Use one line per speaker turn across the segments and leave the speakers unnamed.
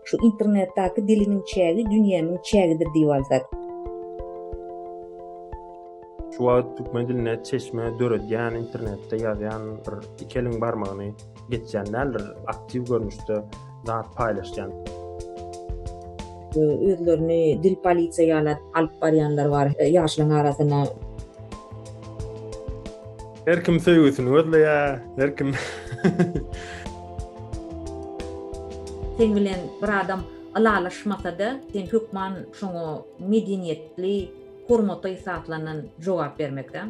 Şu internetdaki dilimiň çägi dünýämiň çägidir diýip alsak. Şu wagt türkmen diline çeşme döredýän internetde ýazýan bir iki eliň barmagyny geçýän däldir aktiw görnüşde zat paýlaşýan. Özlerini dil polisiýa ýaly alyp barýanlar bar ýaşlaň arasynda. Her kim söýgüsini gözleýär, her kim. Sen bilen bir adam ylalaşmasa-da, sen hökman şoňa medeniýetli, hormatly hasaplanan jogap bermekde.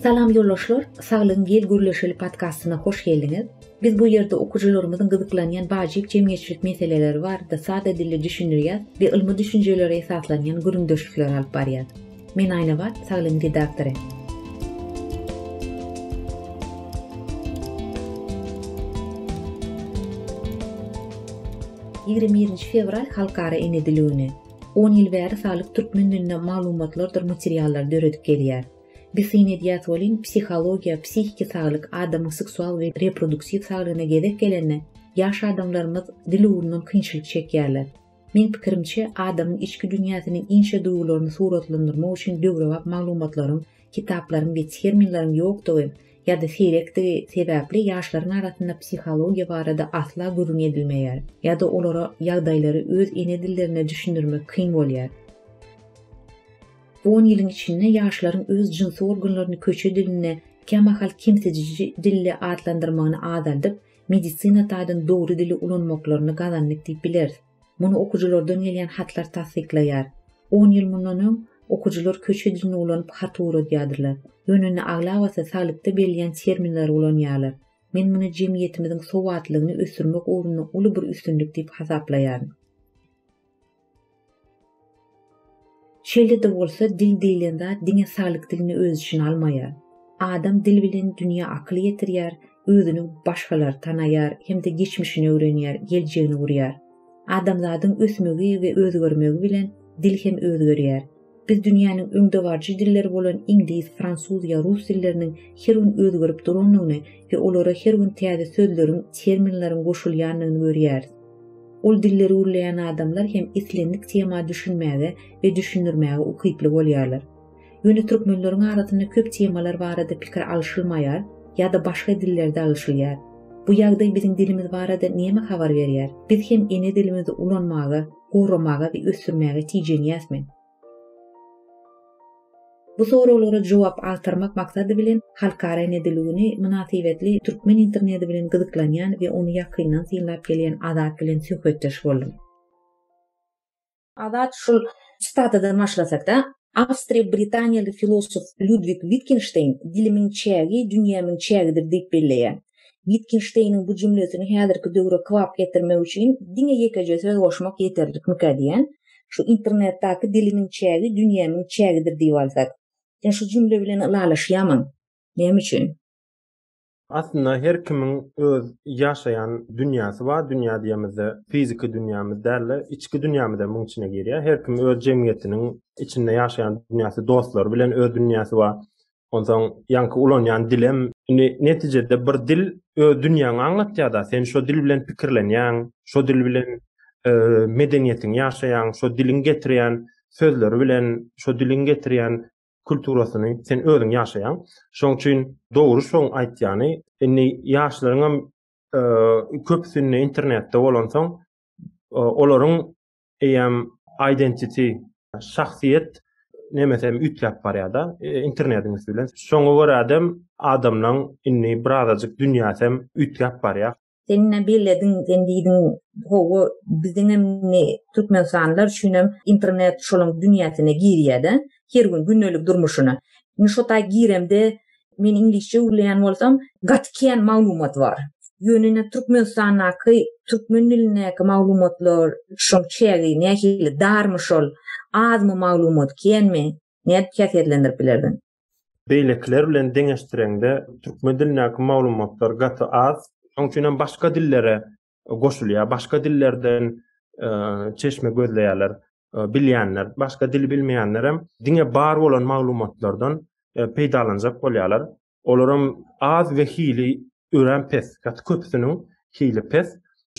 Salam ýoldaşlar, Saglygyň gel gürleşeli podkastyna hoş geldiňiz. Biz bu ýerde okyjylarymyzyň gyzyklanýan wajyp jemgyýetçilik meseleleri barada sada dilde düşündirýäs we ylmy düşünjelere esaslanýan gürrüňdeşlikleri alyp barýas. Men Aýnabat, Saglygyň redaktory. Ýigrimi birinji fewral Halkara ene dili güni. On ýyl bäri Saglyk türkmen dilinde maglumatlardyr materiallary döredip gelýär. Biz syn edýäs welin, psihologiýa, psihiki saglyk, adamyň seksual we reproduksiw saglygyna gezek gelende, ýaş adamlarymyz dil ugrundan kynçylyk çekýärler. Meň pikirimçe, adamyň içki dünýäsiniň inçe duýgularyny suratlandyrmak üçin döwrebap maglumatlaryň, kitaplaryň we terminleriň ýokdugy ýa-da seýrekdigi sebäpli ýaşlaryň arasynda psihologiýa barada asla gürrüň edilmeýär ýa-da olara ýagdaýlary öz ene dillerinde düşündirmek kyn bolýar. Bu on ýylyň içinde ýaşlaryň öz jynsy organlaryny köçe dilinde kämahal kemsidiji dilde atlandyrmagyny azaldyp, medisina taýdan dogry dili ulanmaklaryny gazandyk diýip bileris. Muny okyjylardan gelýän hatlar tassyklaýar. On ýyl mundan öň, okyjylar köçe dilini ulanyp hat ugradýardylar. Ýöne indi aglabasy saglykda berilýän terminleri ulanýarlar. Men muny jemgyýetimiziň sowatlylygyny ösdürmek ugrunda uly bir üstünlik diýip hasaplaýaryn. Şeýle-de bolsa, dil diýlen zat diňe saglyk dilini öz içine almaýar. Adam dil bilen dünýä akyl ýetirýär, özüni başgalar tanaýar hem-de geçmişini öwrenýär, geljegini gurýar. Adamzadyň ösmegi we özgermegi bilen dil hem özgerýär. Biz dünýäniň öňdebaryjy dilleri bolan iňlis, fransuz ýa rus dilleriniň her gün özgerip durandygyny we olara her gün täze sözleriň, terminleriň goşulýandygyny görýäris. Ol dilleri gürleýän adamlar hem islendik tema düşünmäge we düşündirmäge ukyply bolýarlar. Ýöne türkmenleriň arasynda köp temalar barada pikir alyşylmaýar ýa-da başga dillerde alyşylýar. Bu ýagdaý biziň dilimiz barada näme habar berýär? Biz hem ene dilimizi ulanmaga, goramaga we ösdürmäge tijenýäs men? Bu soraglara jogap agtarmak maksady bilen Halkara nedeligini mynasybetli türkmen internedi bilen gyzyklanýan we ony ýakyndan synlap gelýän Azat bilen söhbetdeş boldum. Azat şul çytadadan başlasak-da. Awstriýa-britaniýaly filosof Lýudwig Witgenşteýn Dilimiň çägi dünýämiň çägidir diýip belleýär. Witgenşteýniň bu jümlesini häzirki döwre kybap getirmek üçin diňe ýekeje söz goşmak ýeterlikmikä diýýän. Şu internetdaki Dilimiň çägi dünýämiň çägidir diýip alsak. Sen şu jümle bilen ylalaşýamyň? Näme üçin? Aslynda her kimiň öz ýaşaýan dünýäsi bar. Dünýä diýemizde fiziki dünýämiz däl-de, içki dünýämizem muň içine girýär. Her kim öz jemgyýetiniň içinde ýaşaýan dünýäsi, dostlary bilen öz dünýäsi bar. Onsoň ýaňky ulanýan dilem. Indi netijede bir dil öz dünýäňi aňlatýar-da. Sen şo dil bilen pikirlenýäň, şo dil bilen medeniýetiňi ýaşaýaň, şo diliň getirýän sözleri bilen, şo diliň getirýän kulturasyny sen özüň ýaşaýaň. Şoň üçin dogry şoň aýtýany, indi ýaşlaryň hem e, köpüsinde internetde bolansoň, e, olaryň eýem identity, şahsyýet nemesi hem üýtläp barýar-da, e, internetiň üsti bilen. Şoňa görä hem adamlaryň indi birazajyk dünýäsi hem üýtläp barýar. Sen ne bellediň, sen diýdiň, hawa, biziň hem türkmenistanlylar üçin hem internet şolaň dünýäsine girýär-de, her gün gündelik durmuşyna. Indi şo taý giremde, men iňlisçe gürleýän bolsam, gaty kän maglumat bar. Ýöne ine Türkmenistandaky türkmen dilindäki maglumatlar, şoň çägi nähili, darmy şol, azmy maglumat, känmi? Nädip häsiýetlendirip bilersiň? Beýlekiler bilen deňeşdireňde, türkmen dilindäki maglumatlar gaty az. Şonuň üçin hem başga dillere goşulýar. Başga dillerden çeşme gözleýärler. Bilýänler, başga dil bilmeýänlerem diňe bar bolan maglumatlardan peýdalanjak bolýarlar. Olaram az we hili örän pes, gaty köpüsiniň hili pes.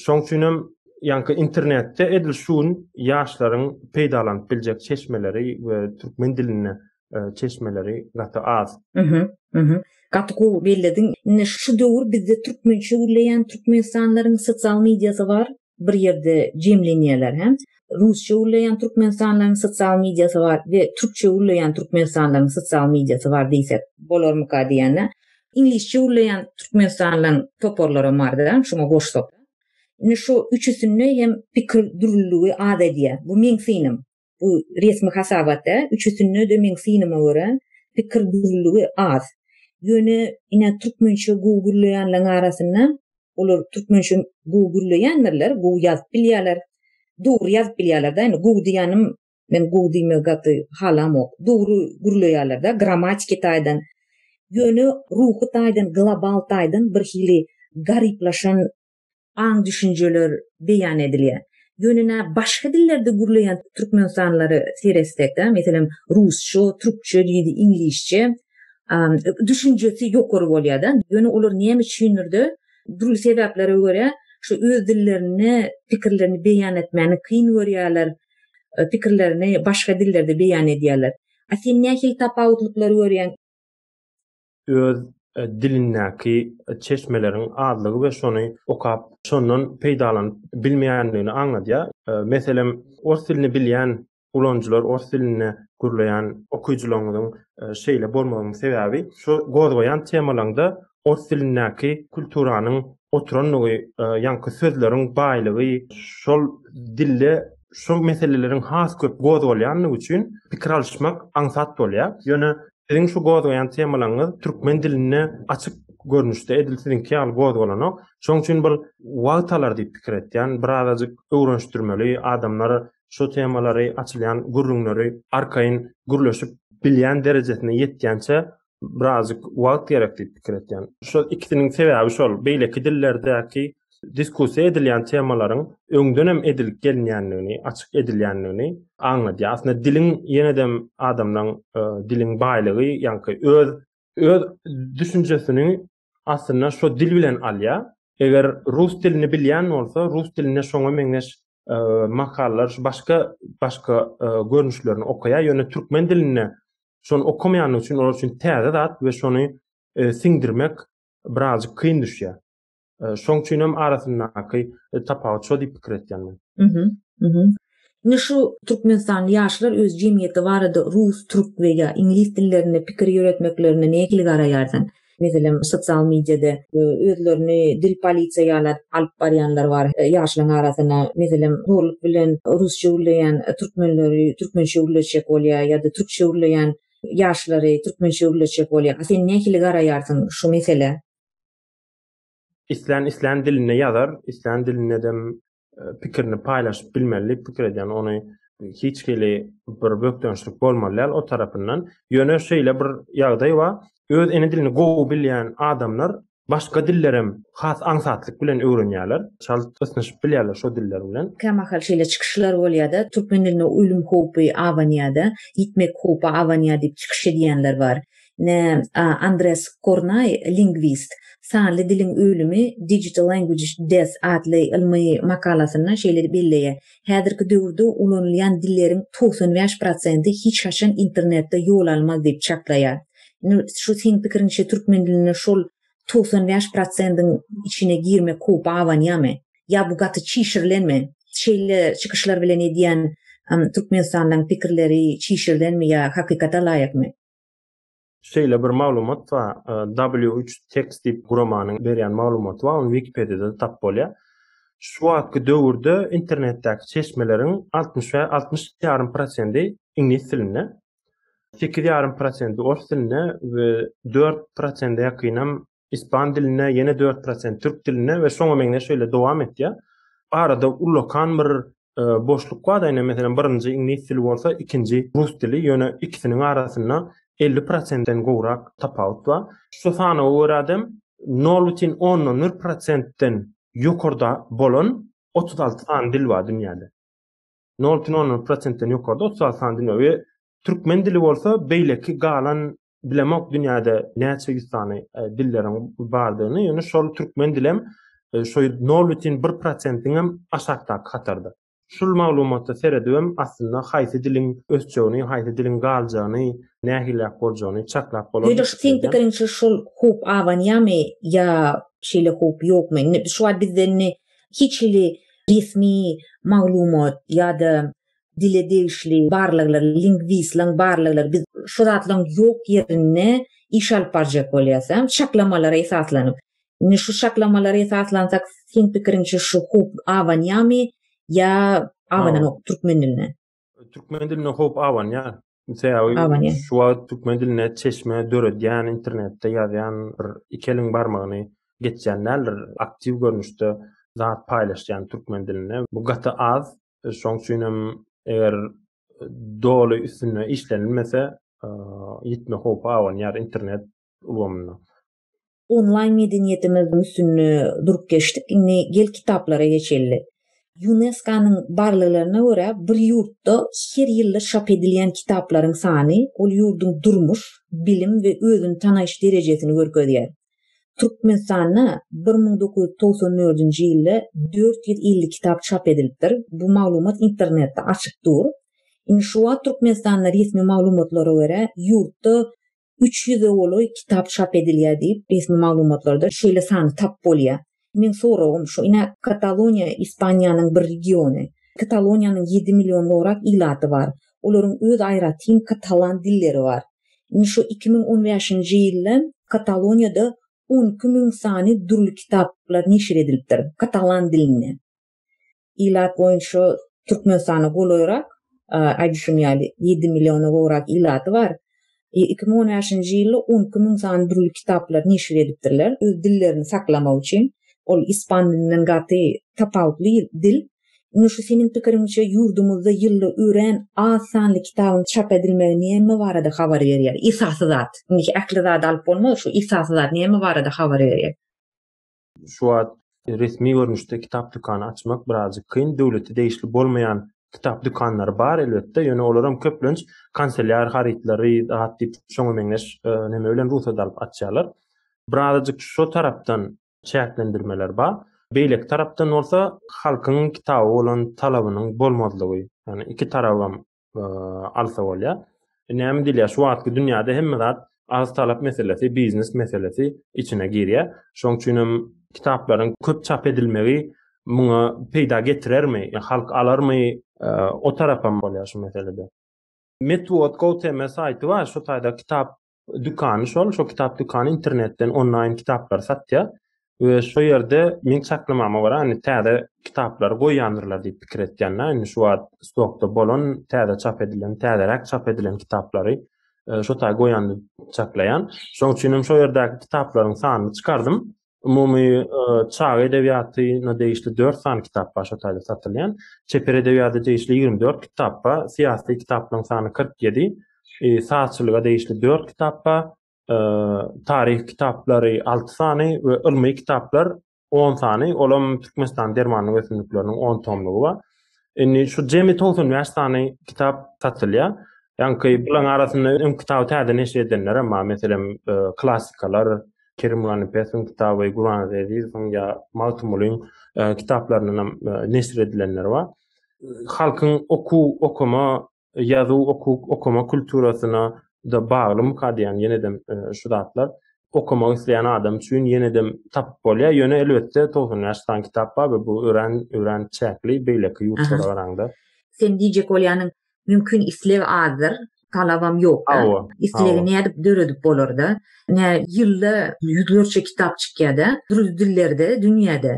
Şoň üçin hem ýaňky internetde edil şu gün ýaşlaryň peýdalanyp biljek çeşmeleri we türkmen dilinde e, çeşmeleri gaty az. Mhm, mhm. Gaty gowy bellediň. Indi şu döwür bizde türkmençe gürleýän türkmenistanlaryň sosial mediasy bar. bir ýerde jemlenýärler hem rusça gürleýän türkmenistanlylaryň sosial mediasy bar we türkçe gürleýän türkmenistanlylaryň sosial mediasy bar diýsek bolarmyka diýende iňlisçe gürleýän türkmenistanlylaryň toparlaram barda şuňa goşsak. Indi şu üçüsinde hem pikir dürlüligi az edýär. Bu meň synym. bu resmi hasabatda üçüsinde-de meň synyma görä pikir dürlüligi az. Ýöne ine türkmençe gowy gürleýänleriň arasynda olar türkmençe gowy gürleýändirler, gowy ýazyp bilýärler, dogry ýazyp bilýärler-de, indi gowy diýýänim men gowy diýmegi gaty halamok. Dogry gürleýärler-de grammatiki taýdan. Ýöne ruhy taýdan, global taýdan birhili garyplaşan aň-düşünjeler beýan edilýär. Ýöne nä başga dillerde gürleýän türkmenistanlylara seretsek-de, meselem, rusça, türkçe diýdi, iňlisçe, düşünjesi ýokary bolýar-da. Ýöne olar näme üçindir-de, dürli sebäplere görä, şu öz dillerinde pikirlerini beýan etmäni kyn görýärler, pikirlerini başga dillerde beýan edýärler. A sen nähili tapawutlyklar görýäň? öz dilindäki çeşmeleriň azlygy we şony okap, şondan peýdalanyp bilmeýändigini aňladýar. Meselem, ors dilini bilýän ulanyjylar ors dilinde gürleýän okyjylaryňyzyň şeýle bolmagynyň sebäbi şu gozgaýan temalaryňda ors dilindäki kulturanyň oturandygy, ýaňky sözleriň baýlygy, şol dilde şol meseleleriň has köp gozgalýandygy üçin pikir alyşmak aňsat bolýar. Ýöne Siziň şu gozgaýan temalaryňyz türkmen dilinde açyk görnüşde edil siziňki ýaly gozgalanok. Şoň üçin bir wagt alar diýip pikir etýän. Birazajyk öwrenişdirmeli, adamlar şu temalary, açylýan gürrüňleri arkaýyn gürleşip bilýän derejesine ýetýänçä birazajyk wagt gerek diýip pikir etýän. Şol ikisiniň sebäbi şol, beýleki dillerdäki diskussiýa edilýän temalaryň öňdenem edilip gelinýändigini, açyk edilýändigini aňladýar. Aslynda diliň ýene-dem adamlaň e, diliň baýlygy, ýaňky öz öz düşünjesini aslynda şu dil bilen alýar. Eger rus dilini bilýän bolsa, rus dilinde şoňa meňzeş e, makallalar şu başga başga e, görnüşlerini okaýar. Ýöne türkmen dilinde şony okamaýandygy üçin olar üçin täze zat we şony e, siňdirmek birazcık kyn düşýär. Şoň üçin hem arasyndaky tapawut şo diýip pikir etýän men. Mhm. Indi şu türkmenistanly ýaşlar öz jemgyýeti barada rus, türk we ýa iňlis dillerinde pikir ýöretmeklerine nähili garaýarsyň? Meselem, sosial mediada özlerini dil polisiýa ýaly alyp barýanlar bar ýaşlaryň arasyna. Meselem, zorluk bilen rusça gürleýän türkmenleri türkmençe gürletjek bolýar ýa-da türkçe gürleýän ýaşlary türkmençe gürletjek bolýar. Sen nähili garaýarsyň şu meselä? islän islän dilinde ýazar, islän dilinde dem e, pikirini paýlaşyp bilmeli diýip pikir edýän. Ony hiç hili bir bökdençlik bolmaly däl o tarapyndan. Ýöne şeýle bir ýagdaý bar. Öz ene dilini gowy bilýän adamlar başga dillerem has aňsatlyk bilen öwrenýärler. Çalt ysnyşyp bilýärler şo diller bilen. Kämahal şeýle çykyşlar bolýar-da, türkmen diline ölüm howpy abanýar-da, ýitmek howpy abanýar diýip çykyş edýänler bar. Ne, a, Andres Kornaý, lingwist, Sanly diliň ölümi, Digital Language Death, atly ylmy makalasynda şeýle belleýär, Häzirki döwürde ulanylýan dilleriň togsan bäş prosenti hiç haçan internetde ýol almaz diýip çaklaýar. Indi şu seň pikiriňçe türkmen dilinde şol togsan bäş prosendiň içine girmek howpy abanýamy? Ýa bu gaty çişirilenmi? Şeýle çykyşlar bilen edýän türkmenistanlylaryň pikirleri çişirilenmi ýa hakykata laýykmy? Şeýle bir maglumat bar. E, W3 Text diýip guramanyň berýän maglumaty bar. Ony Wikipediýada tap bolýar. Şu wagtky döwürde internetdäki çeşmeleriň 60 we 60 ýarym prosendi iňlis dilinde. 8 ýarym prosendi ors dilinde we 4 prosende ýakynam ispan diline, ýene 4 prosent türk diline we şoňa meňzeş şeýle dowam etýär. Arada ullakan bir e, boşluk bar, ýa meselem birinji iňlis dili bolsa, ikinji rus dili, ýöne ikisiniň arasynda 50 prosentden gowrak tapawut bar. Şu sanawa görä hem 0,10 prosentden ýokarda bolan 36 sany dil bar dünýäde. 0,10 prosentden ýokarda 36 sany dil bar we türkmen dili bolsa beýleki galan bilemok dünýäde näçe ýüz sany e, dilleriň bardygyny, ýöne şol türkmen dilem e, şo 0,1%-iň hem aşakdaky hatarda. Şul maglumata seredip hem aslynda haýsy diliň ösjegini, haýsy diliň galjagyny, nähilläp boljagyny çaklap bolar. Ýöne şu seň pikiriňçe şul howp abanýamy ýa şeýle howp ýokmy? Indi şu wagt bizde indi hiç hili resmi maglumat ýa-da dile degişli barlaglar, lingwistleriň barlaglary biz şu zatlaryň ýok ýerinde iş alyp barjak bolýas, çaklamalara esaslanyp. Indi şu çaklamalara esaslansak, seň pikiriňçe şu howp abanýamy ýa abananok türkmen diline? Türkmen diline howp abanýar. Sebäbi şu wagt türkmen diline çeşme döredýän, internetde ýazýan bir iki eliň barmagyny geçýän däldir. Aktiw görnüşde zat paýlaşýan türkmen dilinde bu gaty az. Şoň üçin hem eger doly üstünde işlenilmese, ýitme howpy abanýar internet ulgamynda. Onlaýn medeniýetimiziň üstünde durup geçdik, indi gel kitaplara geçeli. Ýuneskonyň barlaglaryna görä, bir ýurtda her ýylda çap edilýän kitaplaryň sany ol ýurduň durmuş, bilim we özüni tanaýyş derejesini görkezýär. Türkmenistanda bir müň dokuz ýüz togsan dördünji ýylda dört ýüz elli kitap çap edilipdir. Bu maglumat internetde açyk dur. Indi şu wagt Türkmenistanda resmi maglumatlara görä, ýurtda üç ýüze golaý kitap çap edilýär diýip, resmi maglumatlarda şeýle sany tapyp bolýar. Meň soragym şu, ine, Kataloniýa Ispaniýanyň bir regiony. Kataloniýanyň ýedi million gorag ilaty bar. Olaryň öz aýratyn katalan dilleri bar. Indi şu iki müň on bäşinji ýylda Kataloniýada on iki müň sany dürli kitaplar neşir edilipdir katalan dilinde. ilat boýunça Türkmenistana golaýrak, aýdy şuny ýaly, ýedi milliona gowrak ilaty bar. Iki müň on bäşinji ýylda on iki müň sany dürli kitaplary neşir edipdirler, öz dillerini saklamak üçin. Ol ispan dilinden gaty tapawutly dil. Indi şu seniň pikiriňçe, ýurdumyzda ýylda örän az sanly kitabyň çap edilmegi näme barada habar berýär? Esasy zat, indiki ähli zady alyp bolmaz, şu esasy zat näme barada habar berýär? Şu wagt resmi görnüşde kitap dükany açmak birazjyk kyn. Döwlete degişli bolmaýan kitap dükanlary bar elbetde, ýöne olaram köplenç kanselýar harytlary, zat diýip, şoňa meňzeş e, neme bilen rugsat alyp açýarlar. Birazjyk şu tarapdan çäklendirmeler bar. Beýleki tarapdan bolsa halkyň kitaba bolan talabynyň bolmazlygy. Ýani iki tarabam alsa bolýar. E, näme diýilýär? Şu wagtky dünýäde hemme zat arz talap meselesi, biznes meselesi içine girýär. Şoň üçin hem kitaplaryň köp çap edilmegi muňa peýda getirermi? Ýa halk alarmy? E, o tarapam bolýar şu meselede. Metwod.go.tm saýty bar, şu taýda kitap dükany şol, şo kitap dükany internetden onlaýn kitaplary satýar we şo ýerde meň çaklamama görä, indi täze kitaplary goýýandyrlar diýip pikir etýän-de, indi şu wagt stokda bolan, täze çap edilen, täzeräk çap edilen kitaplary e, şo taý goýandyr çaklaýan. Şoň üçin hem şo ýerdäki kitaplaryň sanyny çykardym. umumy çaga edebiýatyna degişli dört sany kitap bar, şo taýda satylýan. Çeper edebiýata degişli ýigrimi dört kitap bar, syýasy kitaplaryň sany kyrk ýedi, sazçylyga degişli dört kitap bar, taryh kitaplary alty sany we ylmy kitaplar on sany, olam Türkmenistanyň dermanlyk ösümlikleriniň on tomlugy bar. Indi şu jemi 95 sany kitap satylýar. Ýaňky bularyň arasynda öň kitaby täze neşir edenler hem bar. Meselem, e, klassikalar, Kerim Ganipesiň kitaby, Guran Ezizowyň ýa Magtymgulyň e, kitaplaryndan hem e, neşir edilenler bar. Halkyň okuw, okuma ýazuw okuw okama kulturasyna da baglymyka diýýän ýenedem e, şu zatlar okamak isleýän adam üçin ýenedem tapyp bolýar. Ýöne elbetde 90 ýaş san kitap bar we bu örän örän çäkli beýleki ýurtlara garaňda. Sen diýjek bolýanyň mümkin isleg azdyr, talabam ýokda. Islegi nädip döredip bolarda? Nä ýylda ýüzlerçe kitap çykýada, dürli dillerde, dünýäde.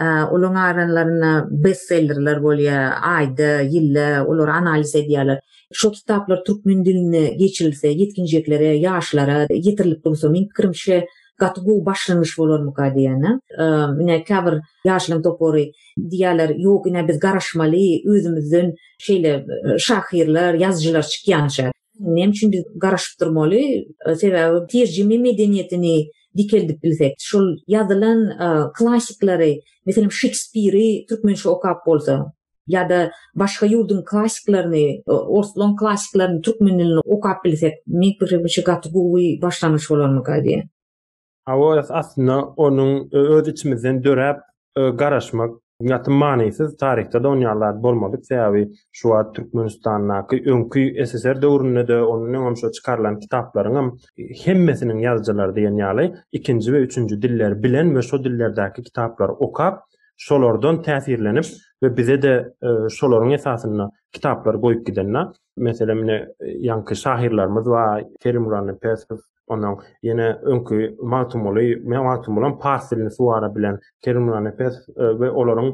Olaryň aralarynda bestsellerler bolýar, aýda, ýylda olary analiz edýärler. Şol kitaplar türkmen diline geçirilse, ýetginjeklere, ýaşlara ýetirilip dursa, meň pikirimçe, gaty gowy başlangyç bolarmyka diýen. Ine, käbir ýaşlaryň topary diýýärler, Ýok, ine, biz garaşmaly, özümizden şeýle şahyrlar, ýazyjylar çykýança. Näme üçin biz garaşyp durmaly? Sebäbi terjime medeniýetini dikeldip bilsek, şol ýazylan klassiklary, meselem, Şekspiri türkmençe okap bolsa ýa-da başga ýurduň klassiklaryny, orslaň klassiklaryny türkmen dilinde okap bilsek, meň pikirimçe, gaty gowy başlangyç bolarmyka diýýän. Hawa, aslynda onuň öz içimizden döräp garaşmak gaty manysyz, taryhda-da onuň ýaly zat bolmadyk, sebäbi şu wagt Türkmenistandaky öňki SSR döwründe-de, ondan öňem şo çykarylan kitaplaryňam hemmesiniň ýazyjylary diýen ýaly ikinji we üçünji dilleri bilen we şo dillerdäki kitaplary okap, şolardan täsirlenip we bize-de şolaryň esasynda kitaplary goýup gidende, meselem, ine, ýaňky şahyrlarymyz bar, Kerimguly Annapesow, Ondan ýene öňki Magtymguly, men Magtymgulam pars dilini suwara bilen Kerimullah Nepes e, we olaryň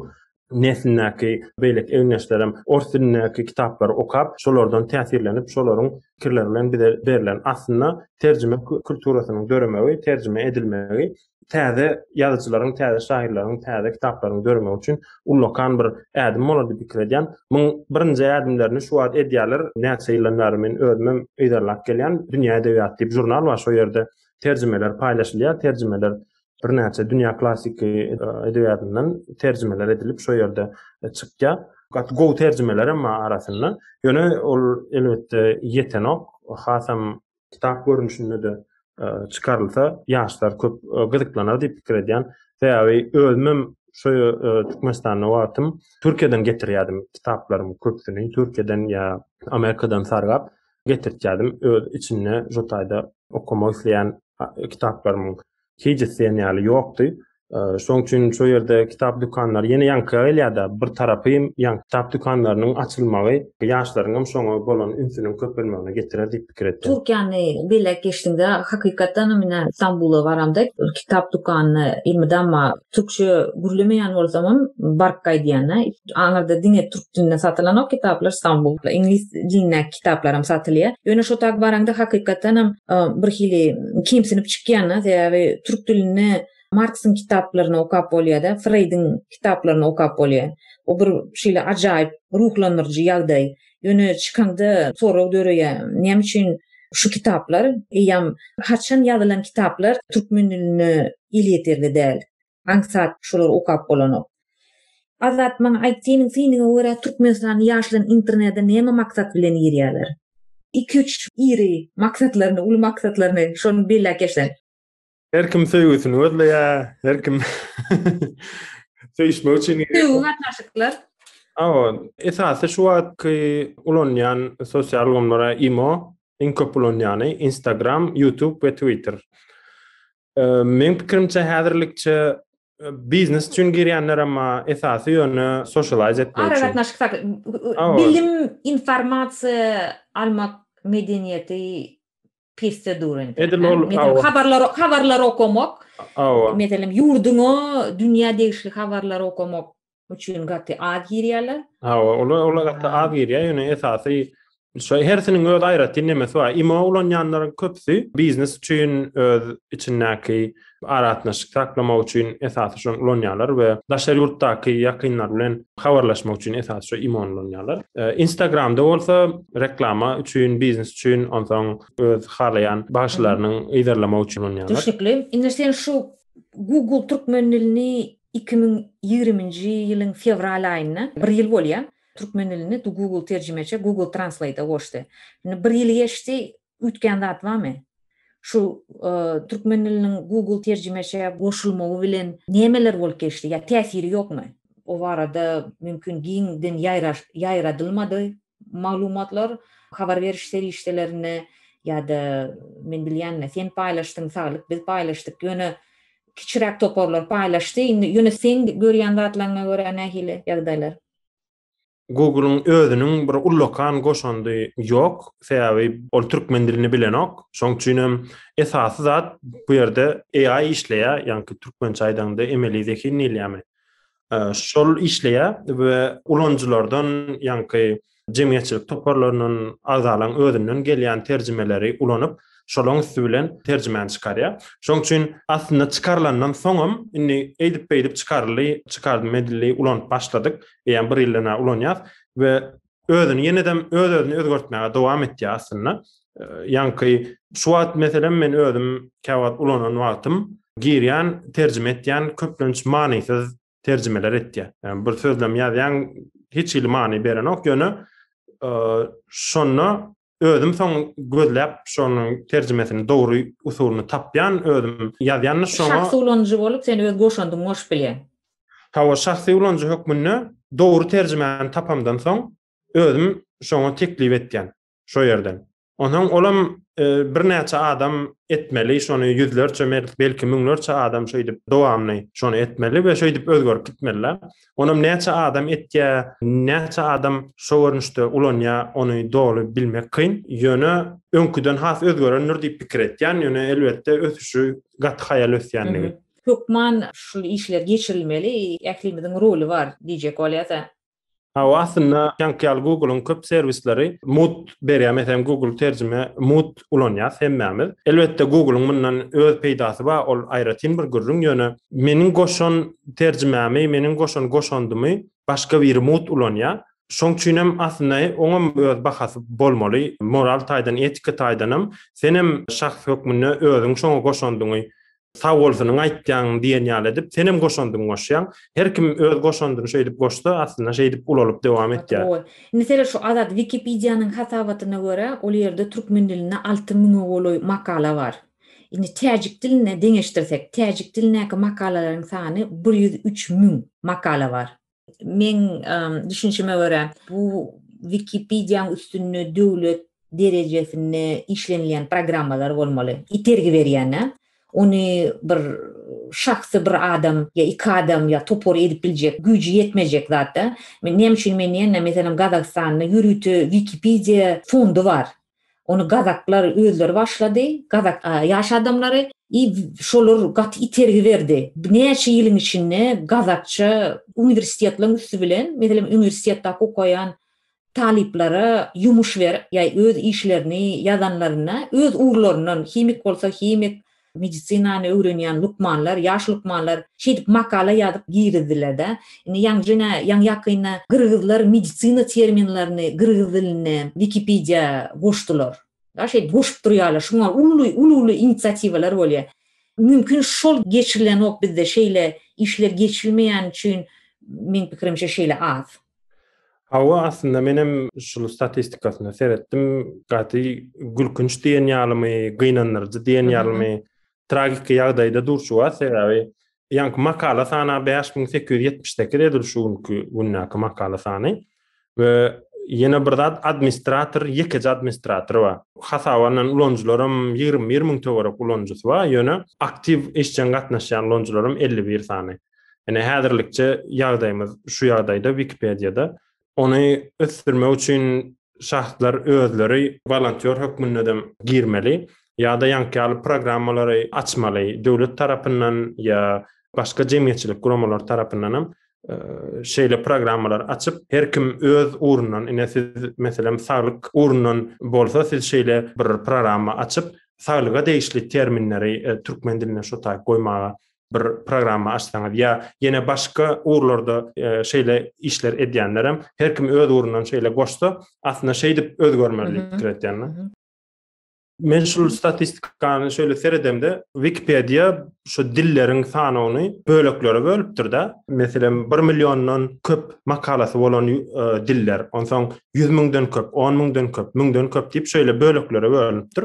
neslindäki beýleki egindeşlerim ors dilindäki kitaplary okap, şolardan täsirlenip, şolaryň pikirleri bilen bize berlen aslynda terjime kulturasynyň döremegi, terjime edilmegi täze ýazyjylaryň, täze şahyrlaryň, täze kitaplaryň döremegi üçin ullakan bir ädim bolar diýip pikir edýän. Muň birinji ädimlerini şu wagt edýärler. Näçe ýyldan bäri men özümem yzarlap gelýän. Dünýä edebiýaty diýip žurnal bar. Şo ýerde terjimeler paýlaşylýar. Terjimeler birnäçe dünýä klassyky e, edebiýatyndan terjimeler edilip şo ýerde e, çykýar. Gaty gowy terjimeler hem arasynda. Ýöne ol elbetde ýetenok. Hasam kitap görnüşinde-de çykarylsa, ýaşlar köp gyzyklanar diýip pikir edýän. Sebäbi özümem şu Türkmenistanda wagtym Türkiýeden getirýärdim kitaplarymy köpsüni, Türkiýeden ýa Amerikadan sargap getirtýärdim. Öz içinde şu taýda okamak isleýän kitaplarymyň Kejis diýen ýaly ýokdy. Şoň üçin şu ýerde kitap dükanlary ýene ýaňky gelýärdi. Bir tarapy hem ýaňky kitap dükanlarynyň açylmagy ýaşlaryň hem şoňa bolan ünsüniň köpelmegine getirer diýip pikir etdim. Türkiýäni belläp geçdiňde, hakykatdan hem ine Stambula baramda kitap dükanyny elmydama türkçe gürlemeýän bolsam hem baryp gaýdýan-a. Aňyrda diňe türk dilinde satylanok kitaplar, Stambulda iňlis dilindäki kitaplaram satylýar. Ýöne şo taýy baraňda hakykatdanam bir hili kemsinip çykýan-da, sebäbi türk dilinde Marksyň kitaplaryny okap bolýar-da, Freýdiň kitaplaryny okap bolýar. O bir şeýle ajaýyp ruhlandyryjy ýagdaý. Ýöne çykaňda sorag döreýär, näme üçin şu kitaplar, eýýäm haçan ýazylan kitaplar türkmen diline elýeterli däl? Aňsat şular okap bolanok. Azat maňa aýt seniň synyňa görä Türkmenistan ýaşlary internede näme maksat bilen girýäler. Iki üç iri maksatlaryny uly maksatlaryny şony belläp geçsen. Her kim söýgüsini gözleýä, her kim söýüşmek üçin girýär. Söýgi gatnaşyklar. Hawa, esasy şu wagtky ulanýan sosial ulgamlara imo, iň köp ulanýany Instagram, YouTube we Twitter. Meň pikirimçe häzirlikçe biznes üçin girýänler emma esasy ýöne sosialize etmek üçin. Aragatnaşyk, bilim, informasiýa almak medeniýeti pesde dur indi. Edil ol habarlar, habarlar okamak. Meselem, ýurduňa, dünýä degişli habarlar okamak üçin gaty az girýärler. Ha, olar olar gaty az girýär, ýöne esasy şu hersiniň öz aýratyn nemesi bar. Imo ulanýanlaryň köpüsi biznes üçin öz içindäki aratnaşyk saklamak üçin esasy şu ulanýarlar we daşary ýurtdaky ýakynlar bilen habarlaşmak üçin esasy şu imo ulanýarlar. E, Instagramda bolsa reklama üçin, biznes üçin, onsoň öz halaýan bagşylarynyň yzarlamak üçin ulanýarlar. Düşnükli. Indi sen şu Google türkmen dilini iki müň ýigriminji ýylyň fewral aýynda, bir ýyl bolýar, türkmen dilini Google terjimeçe, Google Translate-a goşdy. Indi bir ýyly geçdi, üýtgän zat barmy? Şu türkmen diliniň Google terjimeçe goşulmagy bilen nämeler bolup geçdi ýa täsiri ýokmy? O barada mümkin giňden ýaýradylmady. maglumatlar habar beriş serişdelerinde ýa-da men bilýänine sen paýlaşdyň saglyk biz paýlaşdyk ýöne kiçiräk toparlar paýlaşdy indi ýöne seň görýän zatlaryňa görä nähili ýagdaýlar? Google-yň özüniň bir ullakan goşandy ýok, sebäbi ol türkmen dilini bilenok. Şoň üçin hem esasy zat bu ýerde AI işleýär, ýaňky türkmençe aýdaňda emeli zehin diýilýärmi. şol işleýär we ulanyjylardan, ýaňky jemgyýetçilik toparlaryndan, agzalaryň özünden gelýän terjimeleri ulanyp, şolaryň üsti bilen terjimäni çykarýar. Şonuň üçin aslynda çykarylandan soňam, indi eýdip-beýdip çykaryldy, çykardymy edildi, ulanyp başladyk, eýýäm bir ýyldan bäri ulanýarys we özüni ýenedem öz-özüni özgertmäge dowam etýär aslynda. Ýaňky şu wagt meselem men özüm käwagt ulanan wagtym girýän, terjime etýän köplenç manysyz terjimeler etýär. Yani bir sözlem ýazýan hiç hili many berenok, ýöne şonda Özüm soň gözläp şonuň terjimesini dogry usulyny tapýan özüm ýazýan şoňa. Şahsy ulanyjy bolup sen öz goşandyňy goşup bilýäň. Hawa şahsy ulanyjy hökmünde dogry terjimäni tapamdan soň özüm şoňa teklip etýän şo ýerden. Onsoň olam birnäçe adam etmeli şony ýüzlerçe belki müňlerçe adam şeýdip dowamly şony etmeli we şeýdip özgerip gitmeli. Onam näçe adam etýä, näçe adam şo görnüşde ulanýa, ony doly bilmek kyn. Ýöne öňküden has özgerendir diýip pikir etýän, ýöne elbetde ösüşi gaty haýal ösýändigi. Hökman şul işler geçirilmeli, ählimiziň roly bar diýjek bolýasa. Hawa aslynda, jaňky ýaly Google-yň köp serwisleri mut berýär, meselem Google terjime mut ulanýas hemmämiz. Elbetde Google-yň mundan öz peýdasy bar, ol aýratyn bir gürrüň, ýöne meniň goşan terjimämi, meniň goşan goşandymy başga biri mugt ulanýar. Şoň üçinem aslynda oňam öz bahasy bolmaly, moral taýdan, etika taýdanam. Senem şahs hökmünde özüň şoňa goşandyňy Sag bol seniň aýtýanyň diýen ýaly edip senem goşandyňy goşýaň. Her kim öz goşandyny şeýdip goşsa aslynda şeýdip ulalyp dowam etýär. Meselem şu Azat Wikipediýanyň hasabatyna görä ol ýerde türkmen dilinde alty müňe golaý makala bar. Indi täjik diline deňeşdirsek, täjik dilindäki makalalaryň sany bir ýüz üç müň makala bar. Meň düşünişime görä, bu Wikipediýanyň üstünde döwlet derejesinde işlenilýän programmalar bolmaly. Itergi berýän-ä. Ony bir şahsy bir adam ýa iki adam ýa topar edip biljek, güýji ýetmejek zat-da. Näme üçin men diýende, meselem, Gazagystanda ýörite Wikipediýa fondy bar. Ony gazaklar özleri başlady. Gazak ýaş adamlary i şolar gaty itergi berdi. Näçe ýylyň içinde gazakça uniwersitetleriň üsti bilen, meselem, uniwersitetde okaýan talyplara ýumuş berip, ýa öz işlerini ýazanlarynda öz ugurlaryndan, himik bolsa himik, Medisinany öwrenýän lukmanlar, ýaş lukmanlar şeýdip makala ýazyp girizdiler-de. Indi ýaňjyna, ýaňy-ýakynda gyrgyzlar medisina terminlerini gyrgyz diline Wikipediýa goşdular. Ýa şeýdip goşup durýarlar. Şuňa uly, uly-uly inisiatiwalar bolýar. Mümkin şol geçirilenok bizde şeýle işler geçilmeýän üçin meň pikirimçe şeýle az. Hawa, aslynda menem şul statistikasyna seretdim. Gaty gülkünç diýen ýalymy, gynandyryjy diýen ýalymy, tragiki ýagdaýda durşuga sebäbi ýaňky makala sany 5878 edil şu günki gündäki makala sany we ýene bir zat administrator ýekeje administrator bar hasabandan ulanyjylaram ýigrimi bir müň töwerek ulanyjysy bar ýöne aktiw işjeň gatnaşýan ulanyjylaram elli bir sany Ine häzirlikçe ýagdaýymyz şu ýagdaýda Wikipediýada. Ony ösdürmek üçin şahslar özleri wolontýor hökmünde dem girmeli ýa-da ýaňky ýaly programmalary açmaly. Döwlet tarapyndan ýa başga jemgyýetçilik guramalary tarapyndan hem şeýle programmalary açyp, her kim öz ugrundan, ine siz meselem saglyk ugrundan bolsa, siz şeýle bir programma açyp, saglyga degişli terminleri türkmen diline şo taýy goýmaga bir programma açsaňyz ýa ýene başga ugurlarda e, şeýle işler edýänler hem her kim öz ugrundan şeýle goşsa aslynda şeýdip özgermeli pikir edýänler. Men şu statistikany şöyle seredemde Wikipedia şu dillerin sanawyny böleklere bölüpdir de. Meselem 1 milyondan köp makalasy bolan e, diller, onsoň 100 müňden köp, 10 müňden köp, müňden köp diýip şöyle böleklere bölüpdir.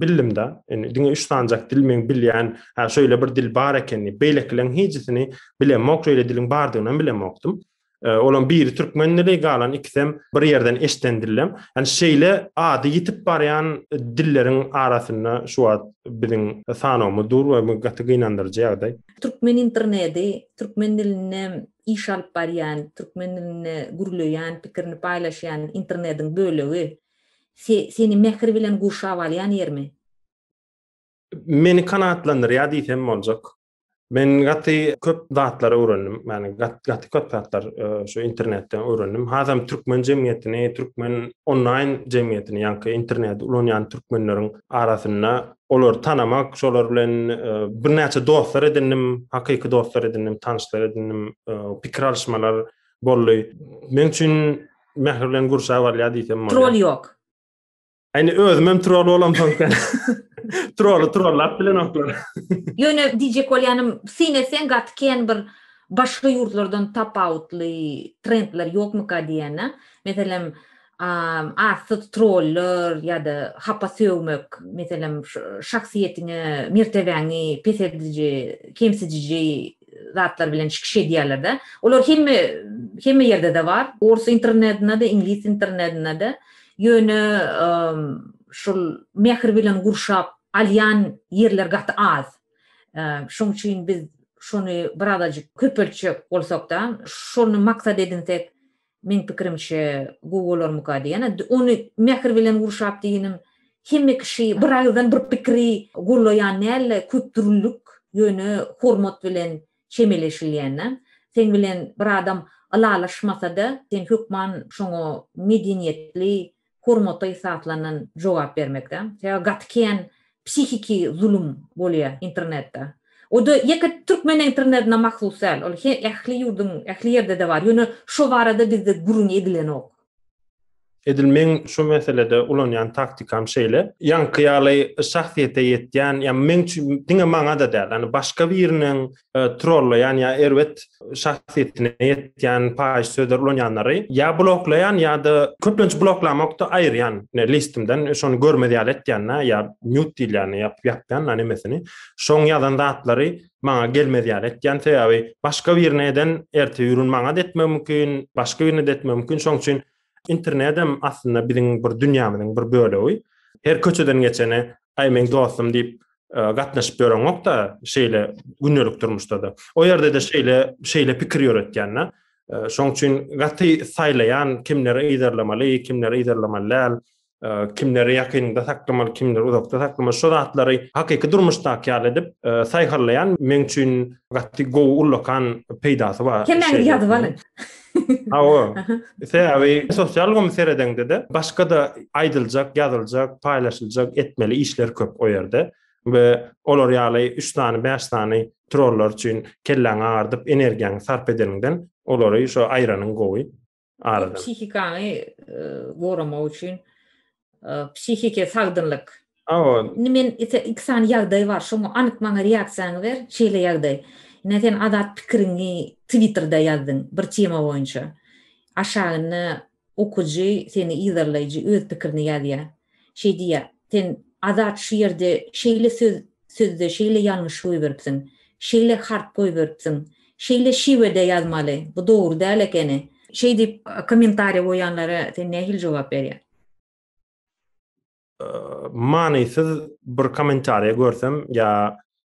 bildim-de. Indi diňe üç sanjak dil men bilýän, ha şeýle bir dil bar ekeni. Beýlekileriň hijisini bilemok, şeýle diliň bardygyny hem bilemokdym. E, Olam biri türkmen dili, galan ikisem bir ýerden eşden dillem. Yani şeýle ady ýitip barýan dilleriň arasynda şu wagt biziň sanawymyz dur we bu gaty gynandyryjy ýagdaý. Türkmen interneti, türkmen dilinde iş alyp barýan, türkmen dilinde gürleýän, pikirini paýlaşýan internetiň bölegi. Seni mähir bilen gurşap alýan ýermi? Meni kanagatlandyrýar diýsem boljak. Men gaty köp zatlar öwrendim. Ýani gaty köp zatlar e, şu internetden öwrendim. Hazam türkmen jemgyýetini, türkmen onlaýn jemgyýetini, ýani interneti ulanýan türkmenleriň arasynda olar tanamak, şolar bilen e, birnäçe dostlar edindim, hakyky dostlar edindim, tanşlar edindim, e, pikir alyşmalar Bolly. Men üçin mähir bilen gurşap alýar diýsem bolýar. Troll ýok. Äni özüm hem troll bolam soňky. Trolly trollap bilenoklar. Ýöne diýjek bolýanym, syn etseň gaty kän bir başga ýurtlardan tapawutly trendler ýokmyka diýýän-ä. Meselem, arsyz troller ýa-da hapa sögmek, meselem, şahsyýetiňe, mertebäňi peseldiji, kemsidiji zatlar bilen çykyş edýärler-de. Olar hemme hemme ýerde-de bar, ors internetinde-de, iňlis internetinde-de. Ýöne şul mähir bilen gurşap alýan ýerler gaty az. Şoň üçin biz şony birazajyk köpeltjek bolsak-da, şony maksat edinsek, Meň pikirimçe gowy bolarmyka diýen ony mähir bilen gurşap diýinim hemme kişi bir agyzdan bir pikiri gollaýan dälde köp dürlük ýöne hormat bilen çemeleşilýände seň bilen bir adam ylalaşmasada sen hökman şoňa medeniýetli hormata esaslandan jogap bermekde. Sebäbi gaty kän psihiki zulum bolýa internetde. O-da ýeke türkmen internetine mahsus däl. Ol ähli ýurduň ähli ýerde-de bar. Ýöne şo barada bizde gürrüňi edilenok. Edil meň şu meselede ulanýan taktikam şeýle. Ýaňky ýaly şahsyýete ýetýän, ýa meň üçin diňe maňa-da däl, ýani başga biriniň E, trollaýan ýa erbet şahsyýetine ýetýän paýyş sözler ulanýanlary ýa bloklaýan ýa-da köplenç bloklamakda aýyrýan listimden şony görmez ýaly etýän ýa mute diýilýän ýap ýapýan nemesini şoň ýazan zatlary maňa gelmez ýaly etýän sebäbi başga birine eden erte ýurun maňa da etmegi mümkin başga birine de etmegi mümkin şoň üçin Internedem aslynda biziň bir dünýämiziň bir bölegi. Her köçeden geçene, aý meň dostum diýip e, gatnaşyp ýöreňok-da, şeýle gündelik durmuşda-da. O ýerde-de şeýle şeýle pikir ýöretýän-de. E, şoň üçin gaty saýlaýan kimleri yzarlamaly, kimleri yzarlamaly däl. kimleri ýakynda saklamaly, kimleri uzakda saklamaly, şu zatlary hakyky durmuşdaky ýaly edip e, saýharlaýan meň üçin gaty gowy ullakan peýdasy bar. Kimleri ýazyp alyň. Awa. Sebäbi sosial gomy seredeňde-de başga da aýdyljak, ýazyljak, paýlaşyljak, etmeli işler köp o ýerde we olar ýaly 3 sany, 5 sany trollar üçin kelläňi agardyp energiýaňy sarp edeniňden olary şu aýranyň gowy. Aradan. Psihikaňy goramak üçin psihiki sagdynlyk. Awa. Indi men iki sany ýagdaý bar. Şoňa anyk maňa reaksiýaňy ber. Şeýle ýagdaý. Ine sen azat pikiriňi Twitterda ýazdyň bir tema boýunça. Aşagynda okyjy, seni yzarlaýjy öz pikirini ýazýar. Şeý diýýär, Sen Azat şu ýerde şeýle söz sözde şeýle ýalňyş goýberipsiň. Şeýle harp goýberipsiň. Şeýle şiwede ýazmaly. Bu dogry däl ekeni. Şeý diýip kommentariýa goýanlara sen nähili jogap berýäň? Manysyz bir kommentariýa görsem ýa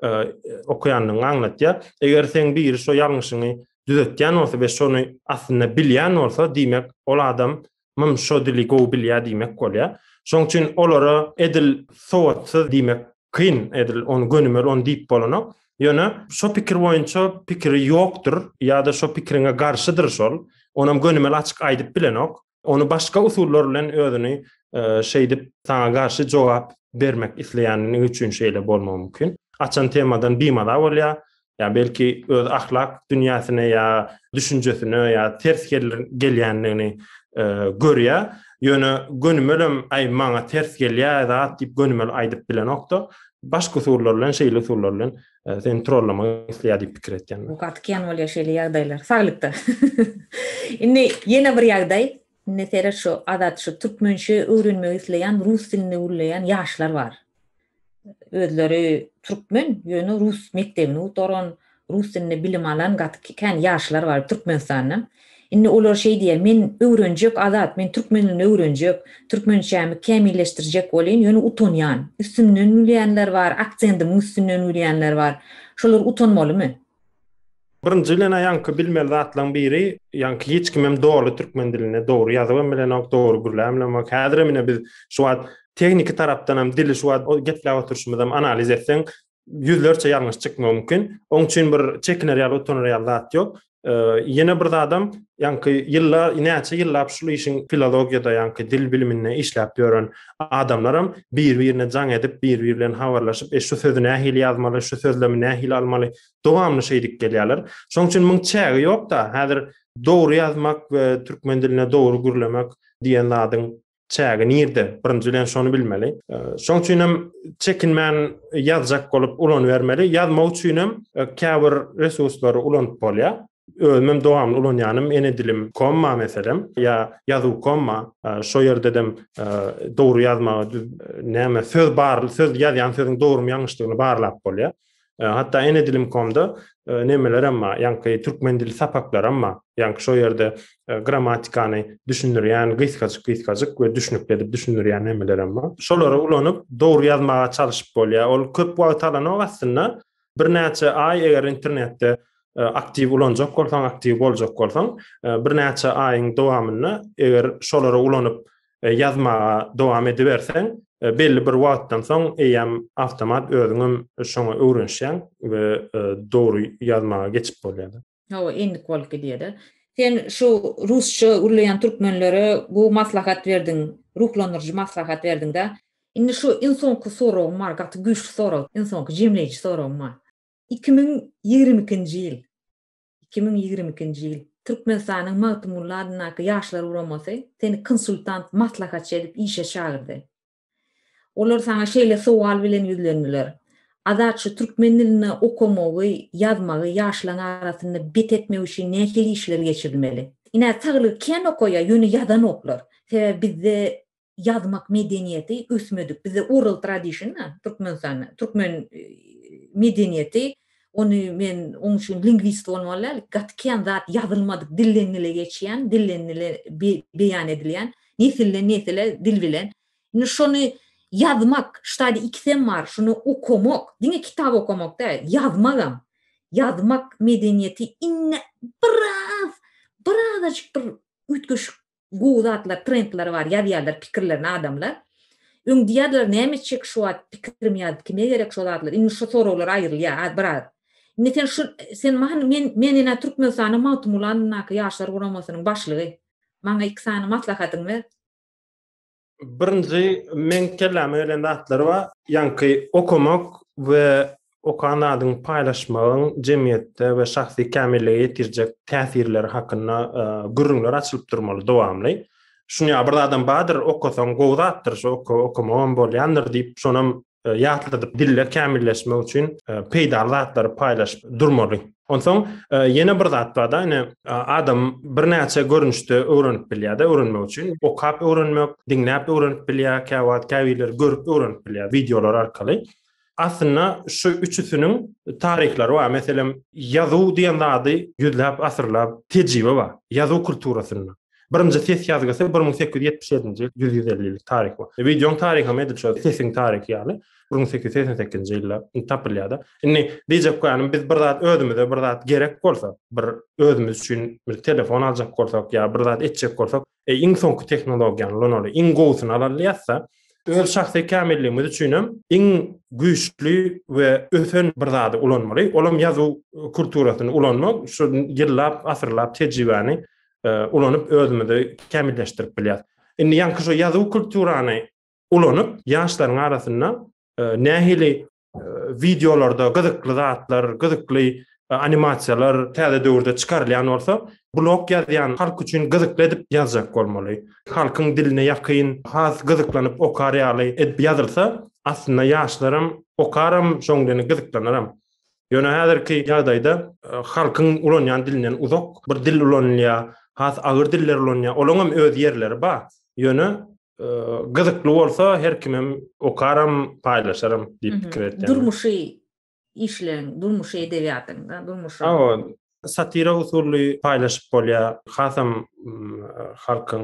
okaýandygyňy aňlatýar. Eger seň biri şo ýalňyşyňy düzetýän bolsa we şony aslynda bilýän bolsa, diýmek, ol adam mym şo dili gowy bilýär diýmek bolýar. Şoň üçin olara edil sowatsyz diýmek kyn, edil ony gönümel ony diýip bolanok. Ýöne şo pikir boýunça pikiri ýokdur ýa-da şo pikiriňe garşydyr şol. Onam gönümel açyk aýdyp bilenok. Ony başga usullar bilen özüni e, şeýdip saňa garşy jogap bermek isleýänini üçin şeýle bolmagy mümkin. Açan temadan bimaza bolýar. Ya belki öz ahlak dünýäsine ya düşünjesine ya ters gelýändigini e, görýär. Ýöne gönümelem aý maňa ters gelýär zat diýip gönümel aýdyp bilenokda. Başga usullar bilen, şeýle usullar bilen e, seni trollamak isleýär diýip pikir etýän. Bu gaty kän bolýar şeýle ýagdaýlar. Saglykda. Indi ýene bir ýagdaý. Indi seret şu adat şu türkmençe öwrenmek isleýän, rus dilinde gürleýän ýaşlar bar. Özleri türkmen, ýöne rus mekdebini gutaran, rus dilinde bilim alan gaty kän ýaşlar bar Türkmenistanda. Indi olar şeý diýýär, Men öwrenjek, Azat, men türkmen dilini öwrenjek, türkmençämi kämilleşdirjek bolýan, ýöne utanýan. Üstümden gülýänler bar, aksendimiň üstünden gülýänler bar. Şolar utanmalymy? Birinji bilen-ä ýaňky bilmeli zatlaryň biri, ýaňky hiç kim hem doly türkmen dilini dogry ýazyp hem bilenok, dogry gürläp hem bilenok. Häzirem ine biz şu wagt tehniki tarapdan hem dili şu wagt gepläp oturyşymyzy hem analiz etseň, ýüzlerçe ýalňyş çykmagy mümkin. Oň üçin bir çekiner ýaly, utanar ýaly zat ýok. Ýene bir zadam, ýaňky ýyllar, näçe ýyllap şu işiň filologiýada, ýaňky dil biliminde işläp ýören adamlaram bir-birine jaň edip, bir-biri bilen habarlaşyp, e, şu sözi nähili ýazmaly, şu sözlemi nähili almaly, dowamly şeýdip gelýärler. Şoň üçin muň çägi ýok-da, häzir dogry ýazmak we türkmen diline dogry gürlemek diýen zadyň çägi nirde birinji bilen şony bilmeli şoň üçin hem çekinmän ýazjak bolup ulanybermeli ýazmak üçin hem e, käbir resurslary ulanyp bolýar özüm hem dowamly ulanýanym ene dilim komma meselem ýa ýazuw komma e, şo ýerde dem e, dogry ýazmagy näme söz bar söz ýazýan sözüň dogrymy ýalňyşdygyny barlap bolýar E, hatda ene dilim komda e, nemeler hem bar. Ýaňky türkmen dili sapaklar hem bar. Ýaňky şo ýerde e, grammatikany düşündirýän gysgajyk gysgajyk we düşünikli edip düşündirýän nemeler hem bar. Şolary ulanyp dogry ýazmaga çalyşyp bolýar. Ol köp wagt alanok aslynda. Birnäçe aý eger internetde E, aktiw ulanjak bolsaň, aktiw boljak bolsaň, e, birnäçe aýyň dowamynda eger şolary ulanyp e, ýazmaga dowam ediberseň, e, belli bir wagtdan soň eýýäm awtomat özüňem şoňa öwrenişýäň we e, dogry ýazmaga geçip bolýar. Hawa, endik bolup gidýär-de. Sen şu rusça gürleýän türkmenlere gowy maslahat berdiň, ruhlandyryjy maslahat berdiň-de. Indi şu iň soňky soragym bar, gaty güýçli sorag, iň soňky jemleýji soragym bar. Iki müň ýigrimi ikinji ýyl. iki müň ýigrimi ikinji ýyl. Türkmenistanyň Magtymguly adyndaky Ýaşlar guramasy seni konsultant, maslahatçy edip işe çagyrdy. Olar saňa şeýle sowal bilen ýüzlendiler, Azat şu türkmen dilinde okamagy, ýazmagy ýaşlaň arasynda bet etmek üçin nähili işler geçirilmeli? Ine, saglygy kän okaýar, ýöne ýazanoklar. Sebäbi bizde ýazmak medeniýeti ösmedik bizde oral tradition da türkmenistanda türkmen medeniýeti ony men oň üçin lingwist bolmaly däl gaty kän zat ýazylmadyk dilden dile geçýän dilden dile beýan edilýän nesilden nesile dil bilen indi şony ýazmak ştadi ikisem bar şuny okamak diňe kitap okamak däl ýazmagam ýazmak medeniýeti indi biraz birazajyk bir üýtgeşik Gowy zatlar, trendler bar, ýazýarlar pikirlerini adamlar. Öň diýýärdiler näme etjek şu wagt pikirim ýazyp kime gerek şo zatlar, indi şu soraglar aýrylýar az biraz. Indi sen şu sen maňa men men ine Türkmenistanyň Magtymguly adyndaky Ýaşlar guramasynyň başlygy. Maňa iki sany maslahatyňy ber. Birinji meň kelläme gelen zatlar bar. Ýaňky okamak we okan zadyňy paýlaşmagyň jemgyýetde we şahsy kämillige ýetirjek täsirleri hakynda e, gürrüňler açylyp durmaly dowamly. Şuny bir zadam bardyr, okasaň gowy zatdyr, şu okamagam bolýandyr diýip, şonam e, ýatladyp diller kämilleşmek üçin e, peýdaly zatlary paýlaşyp durmaly. Onsoň e, ýene bir zat bar-da, ýene adam birnäçe görnüşde öwrenip bilýär-de öwrenmek üçin. Okap öwrenmek, diňläp öwrenip bilýär, käwagt käbirler görüp öwrenip bilýär wideolar arkaly. Aslynda şu üçüsiniň taryhlary bar. Meselem, ýazuw diýen zady ýüzläp asyrlap tejribe bar. Ýazuw kulturasynda. Birinji ses ýazgysy bir müň sekiz ýüz ýetmiş ýedinji ýyl, ýüz ýüz elli ýyllyk taryhy bar. Wideoň taryhy hem edil şol sesiň taryhy ýaly, bir müň sekiz ýüz segsen sekizinji ýylda tapylýar-da. Indi diýjek bolýanym, biz bir zat özümize bir zat gerek bolsa, bir özümiz üçin bir telefon aljak bolsak ýa bir zat etjek bolsak, eý, iň soňky tehnologiýany ulanaly, iň gowusyny alaly diýýäs-de. Öz şahsy kämilligimiz üçin hem iň güýçli we ösen bir zady ulanmaly. Ol hem ýazuw kulturasyny ulanmak, şu ýyllap, asyrlap tejribäni ulanyp özümizi kämilleşdirip bilýäs. Indi ýaňky şu ýazuw kulturany ulanyp ýaşlaryň arasynda nähili wideolarda gyzykly zatlar, gyzykly animasiýalar täze döwürde çykarylýan bolsa, blog ýazýan halk üçin gyzykly edip ýazjak bolmaly. Halkyň diline ýakyn, has gyzyklanyp okar ýaly edip ýazylsa, aslynda ýaşlaram okaram, şoň bilen gyzyklanarm. Ýöne häzirki ýagdaýda halkyň ulanýan dilinden uzak bir dil ulanylýar, has agyr diller ulanýar. Olaň hem öz ýerleri bar. Ýöne gyzykly bolsa her kim hem okaram, paýlaşaram diýip pikir etdim. Durmuşy işleň, durmuşy edebiýatyň, durmuşy. Hawa, satira usuly paýlaşyp bolýar. Hasam halkyň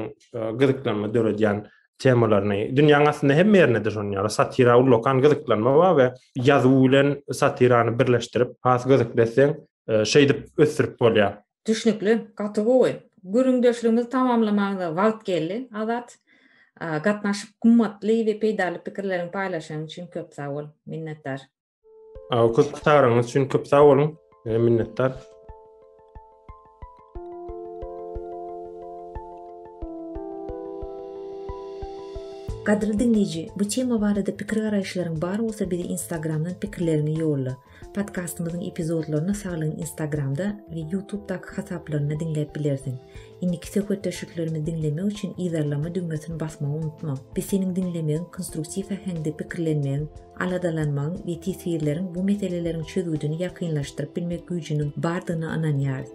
gyzyklanma döredýän temalaryny. Dünýäň aslynda hemme ýerinde-de şonuň ýaly satira ullakan gyzyklanma bar we ýazuw bilen satirany birleşdirip, has gyzykly etseň, şeýdip ösdürip bolýar. Düşnükli, gaty gowy. Gürrüňdeşligimizi tamamlamaga wagt geldi, Azat. Gatnaşyp, gymmatly we peýdaly pikirleriňi paýlaşanyň üçin köp sag bol. Minnetdar. Köp çagyryňyz üçin köp sag boluň. Minnetdar. Gadyrly diňleýji, bu tema barada pikir-garaýyşlaryň bar bolsa bize Instagramdan pikirleriňi ýolla. Podkastymyzyň epizodlaryny Saglygyň Instagramda we Ýutubdaky hasaplarynda diňläp bilersiň. Indiki söhbetdeşliklerimizi diňlemek üçin yzarlama düwmesini basmagy unutma. Biz seniň diňlemegiň, konstruktiw äheňde pikirlenmegiň, aladalanmagyň we teswirleriň bu meseleleriň çözgüdini ýakynlaşdyryp bilmek güýjüniň bardygyna ynanýarys.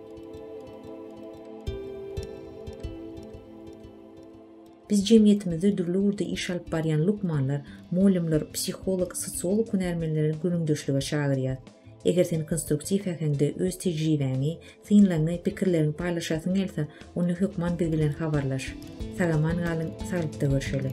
Biz jemgyýetimizde dürli ugurda iş alyp barýan lukmanlar, mugallymlar, psiholog, sosiolog hünärmenleri gürrüňdeşlige çagyrýas. Eger sen konstruktiw äheňde öz tejribäňi, synlaryňy, pikirleriňi paýlaşasyň gelse, onda hökman biz bilen habarlaş. Sagaman galyň, saglykda görşeli!